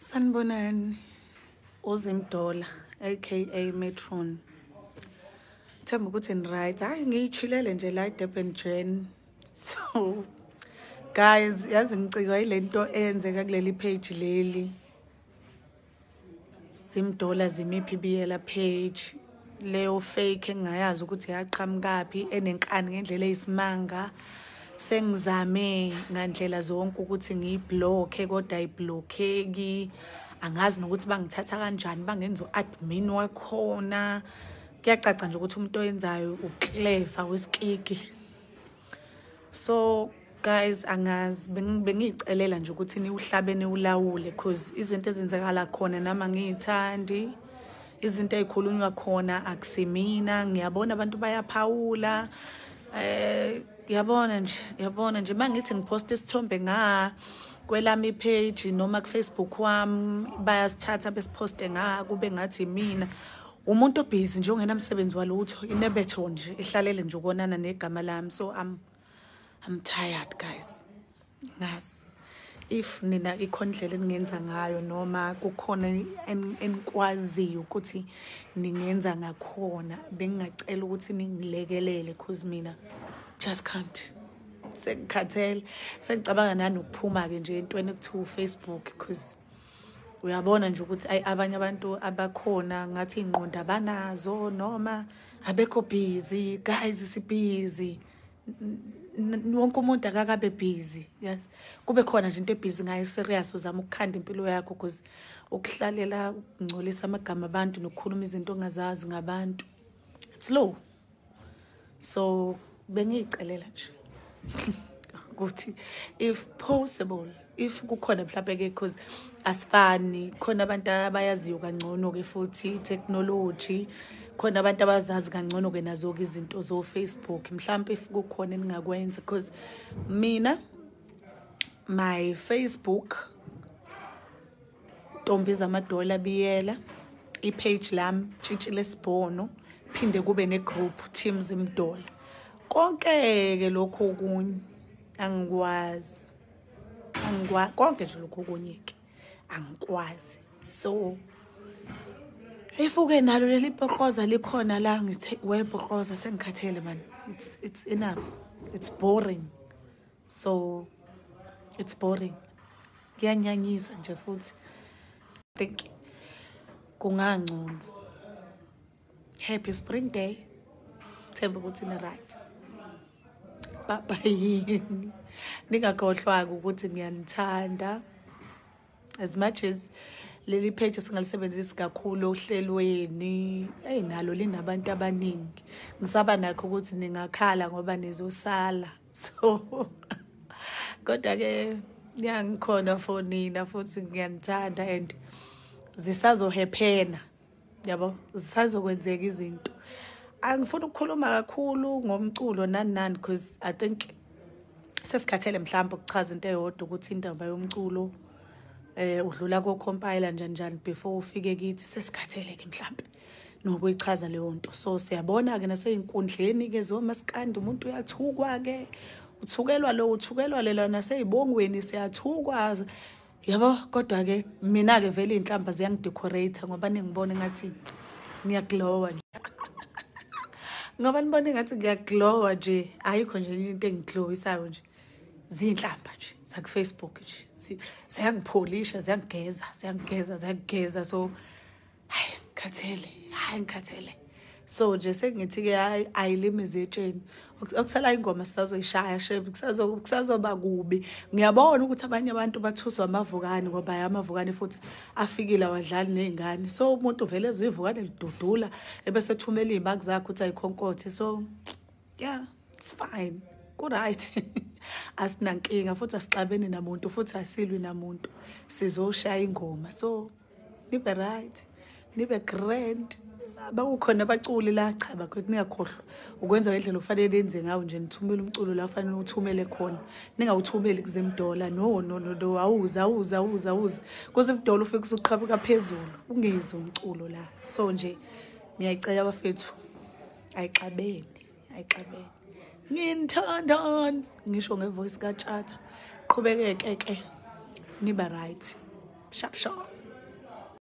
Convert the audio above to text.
sanibonani uzimdola aka metron themba ukuthi niright hhayi ngiyishilele nje la idurban jen so guys yazi ngicikwa yile nto eyenzeka kuleli page leli zimdola zimiphi biyela page leyo fake engingayazi ukuthi yaqhamukaphi enenkani ngendlela eyisimanga sengizame ngandlela zonke ukuthi ngiyiblokhe kodwa ayiblokheki angazi nokuthi bangithatha kanjani bangenza u-admin wakhona kuyacaca nje ukuthi umuntu oyenzayo ukleva wesikiki so guys angazi bengiyicelela nje ukuthi niwuhlabe niwulawule cause izinto ezenzekala khona nami angiyithandi izinto ey'khulunywa khona akusimina ngiyabona abantu bayaphawula eh yabona nje yabona nje mangithi ngiphosta isithombe nga kwelami page noma kufacebook wami bayasithatha besiposte nga kube ngathi mina umuntu obhizi nje ongenamsebenzi walutho inebetho nje ihlalele nje ukonana negama lami so i'm i'm tired guys ngazi if nina ikhona indlela eningenza ngayo noma kukhona enikwaziyo ukuthi ningenza ngakhona bengingacela ukuthi ningilekelele cause mina just can't sengikhathele sengicabanga nanokuphuma-ke nje entweni ekuthiwa ufacebook cause uyabona nje ukuthi ayi abanye abantu abakhona ngathi ingqondo abanazo noma abekho busy guys sibusy wonke umuntu akakabe busy yes kube khona nje into ebusy ngayo serious uzama ukukhanda impilo yakho because ukuhlalela ukungcolisa amagama abantu nokukhuluma izinto ongazazi ngabantu it's low so bengiyicelela nje ukuthi if possible if kukhona mhlawumbe ke because asifani khona abantu abayaziyo kangcono ke futhi technology khona abantu abazazi kangcono ke nazo ke izinto zo Facebook mhlawumbe if kukhona eningakwenza because mina my Facebook ntombi zamadola biyela ipage lami tshitshile sibhono phinde kube negroup team zimdola konke-ke lokhu okunye angikwazi angikwazi konke nje lokhu okunye-ke angikwazi so ifuke nalo leli bhokoza likhona la ngithe webhokoza sengikhathele mani it's, it's enough it's boring so it's boring kuyanyanyisa nje futhi think kungangcono happy spring day themba ukuthi ni-right baba yini ningakhohlwaka ukuthi ngiyanithanda as much as leli page singalisebenzisi kakhulu ohlelweni eyi nalo linabantu abaningi ngisaba nakho ukuthi ningakhala ngoba nizosala so kodwa-ke ngiyangikhona for nina futhi ngiyanithanda and zisazohephena yabo zisazokwenzeka izinto angifuni ukukhuluma kakhulu ngomculo nani nani because i think sesikhathele mhlawumbe ukuchaza into eyodwa ukuthi indaba yomculo eh udlula kocompile njani njani before ufike kithi sesikhathele ke mhlawumbe nokuyichaza leyo nto so siyabona ke naseyinkundleni ke zomaskandi umuntu uyathukwa ke uthukelwa lo uthukelwa lela naseyibongweni siyathukwa yabo kodwa ke mina ke vele inhlamba ziyangidecorate ngoba ningibona ngathi ngiyaglowa nje ngoba nibona ngathi ngiyaglowa nje ayikho nje into engiglowisayo nje zinhlamba nje zaku Facebook nje ziyangipholisha ziyangigeza ziyangigeza ziyangigeza so hayi ngikhathele hayi ngikhathele so nje sengithi-ke hayi ayilimi zetsheni okusala ingoma sisazoyishaya shem kusazoba kubi ngiyabona ukuthi abanye abantu bathuswa amavukane ngoba ya amavukane futhi afikile awadlali ney'ngane so umuntu vele ezwe ivukane lidudula ebese ethumela iy'maki zakhe ukuthi ayikhonkothe so yeah it's fine kuright asinankinga futhi asixabeni namuntu futhi asilwi namuntu sizoshaya ingoma so nibe right nibe grand bakukhona abaculi la cha bakwethu ningakhohlwa ukwenza ngendlela ofanele nenze ngawo nje nithumele umculo la ufanele uthumele khona ningawuthumeli kuzemdola no no no no awuze awuze awuze awuze kuzemdola ufike usuqhabuka phezulu ungezi umculo la so nje ngiyayicela bafethu ayixabene ayixabene nginithandon ngisho ngevoice katshata qhubekeke ke niba right sharp sharp